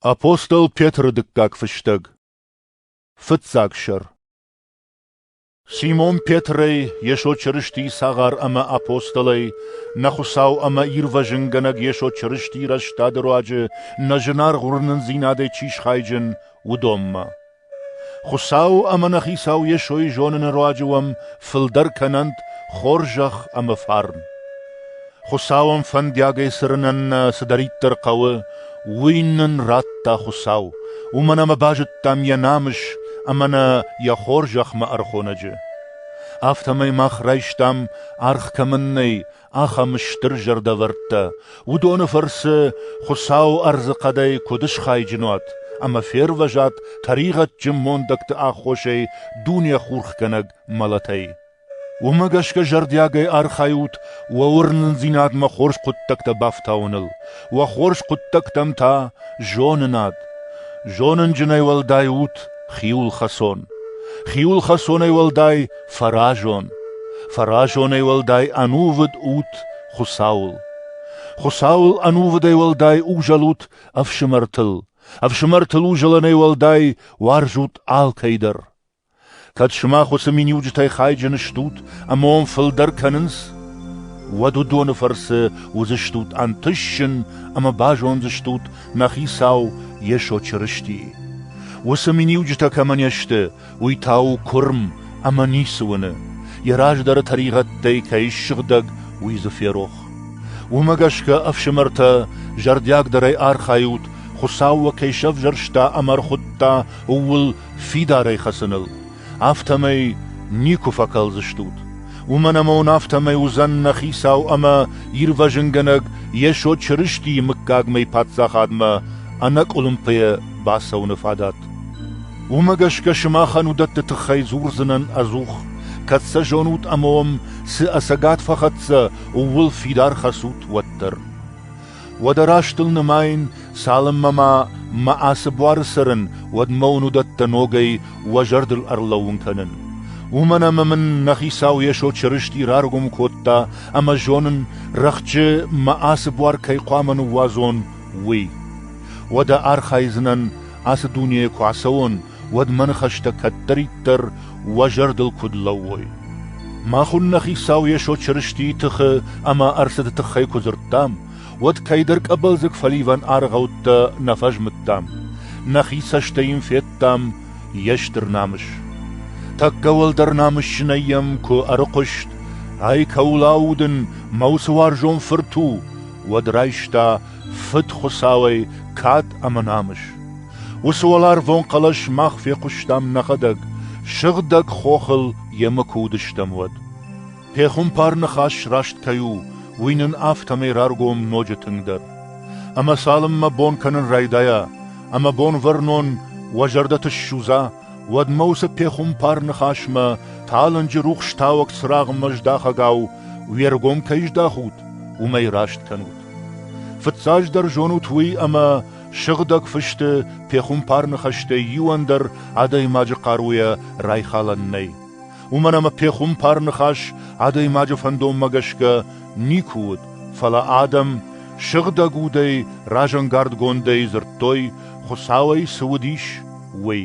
Апостол Петры дыккаг фыстӕг Фыццаг сӕр Симон Петрӕй, Йесо Чырыстийы цагъар ӕмӕ апостолӕй, нӕ Хуыцау ӕмӕ Ирвӕзынгӕнӕг Йесо Чырыстийы рӕстады руаджы нӕ зынаргъ уырнындзинадӕй чи схайджын, уыдонмӕ. Хуыцау ӕмӕ нӕ Хицау Йесойы зоныны руаджы уӕм фылдӕр кӕнӕнт хорзӕх ӕмӕ фарн. Хуыцауӕн фӕндиагӕй цырынӕн нӕ цыдӕриддӕр хъӕуы, уый нын радта Хуыцау, уымӕн ӕмӕ базыдтам йӕ намыс ӕмӕ нӕ йӕ хорзӕхмӕ ӕрхонӕджы. Афтӕмӕй мах райстам аргъ кӕмӕн нӕй, ахӕм стыр зӕрдӕвӕрдтӕ, уыдоны фӕрцы Хуыцау ӕрдзы хъӕдӕй куыд схайджын уат ӕмӕ фервӕзат тӕригъӕдджын мондӕгты аххосӕй дунехурхгӕнӕг мӕлӕтӕй. Уымӕ гӕсгӕ зӕрдиагӕй архайут уӕ уырнындзинадмӕ хорз хъуыддӕгтӕ бафтауыныл, уӕ хорз хъуыддӕгтӕм та зонынад. Зонынджынӕй уӕлдай ут хиуылхӕцон. Хиуылхӕцонӕй уӕлдай Фӕразон, фӕразонӕй уӕлдай ӕнувыд ут Хуыцауыл. Хуыцауыл ӕнувыдӕй уӕлдай узӕлут ӕфсымӕртыл, ӕфсымӕртыл узӕлынӕй уӕлдай уарзут алкӕй дӕр. Кӕд сымах уыцы миниуджытӕй хайджын стут ӕмӕ уӕм фылдӕр кӕнынц, уӕд уыдоны фӕрцы уыдзыстут ӕнтысджын ӕмӕ базондзыстут нӕ Хицау Йесо Чырыстийы. Уыцы миниуджытӕ кӕмӕ не сты, Уый та у куырм ӕмӕ ницы уыны, йӕ раздӕры тӕригъӕдтӕй кӕй ссыгъдӕг, уый дзы ферох. Уымӕ гӕсгӕ, ӕфсымӕртӕ, зӕрдиагдӕрӕй архайут, Хуыцау уӕ кӕй сӕвзӕрста ӕмӕ ӕрхуыдта ууыл фидарӕй хӕцыныл, афтӕмӕй никуы фӕкӕлдзыстут. Уымӕн ӕмӕ уын афтӕмӕй уыдзӕн нӕ Хицау ӕмӕ Ирвӕзынгӕнӕг Йесо Чырыстийы мыггагмӕйы Паддзахадмӕ ӕнӕкъуылымпыйӕ бацӕуыны фадат. Уымӕ гӕсгӕ сымахӕн уыдӕтты тыххӕй дзурдзынӕн ӕдзух, кӕд сӕ зонут ӕмӕ уӕм цы ӕцӕгад фӕхӕццӕ, ууыл фидар хӕцут уӕддӕр. Уӕдӕ растыл нымайын, цалынмӕ ма мӕ ацы буары цӕрын, уӕдмӕ уын уыдӕттӕ ногӕй уӕ зӕрдыл ӕрлӕууын кӕнын. Уымӕн ӕмӕ мын нӕ хицау Йесо Чырысти раргом кодта ӕмӕ зонын, рӕхджы мӕ ацы буар кӕй хъуамӕ ныууадзон, уый. Уӕдӕ архайдзынӕн, ацы дунейӕ куы ацӕуон, уӕд мӕ ныхӕстӕ кӕддӕриддӕр уӕ зӕрдыл куыд лӕууой. Мах уынна Хицау Йесо Чырыстийы тыхы ӕмӕ ӕрцыды тыххӕй куы дзырдтам, уӕд кӕйдӕр къӕбӕлдзыг фӕливӕн аргъӕуттӕ нӕ фӕзмыдтам, нӕхи цӕстӕй йын федтам йе стыр намыс. Тӕккӕ уӕлдӕр намысджынӕй йӕм куы ӕрыхъуыст, ай кӕуыл аудын, мӕ уыцы уарзон фырт у, уӕд райста Фыд Хуыцауӕй кад ӕмӕ намыс. Уыцы уӕларвон хъӕлӕс мах фехъуыстам нӕхӕдӕг, сыгъдӕг хохыл йемӕ куы уыдыстӕм, уӕд. Пехуымпар ныхас раст кӕй у, уый нын афтӕмӕй раргом ноджы тынгдӕр. Ӕмӕ цалынмӕ бон кӕнын райдайа, ӕмӕ бонвӕрнон уӕ зӕрдӕты ссудза, уӕдмӕ уыцы пехуымпар ныхасмӕ талынджы рухс тауӕг цырагъмӕ здахӕгау уе ргом кӕй здахут, уымӕй раст кӕнут. Фыццаджыдӕр зонут уый, ӕмӕ Сыгъдӕг Фысты пехуымпарны хӕстӕй иуӕн дӕр адӕймаджы хъаруйӕ райхалӕн нӕй. Уымӕн ӕмӕ пехуымпар ныхас адӕймаджы фӕндонмӕ гӕсгӕ никуы уыд, фӕлӕ адӕм сыгъдӕг удӕй разӕнгардгондӕй дзырдтой, Хуыцауӕй цы уыдис, уый.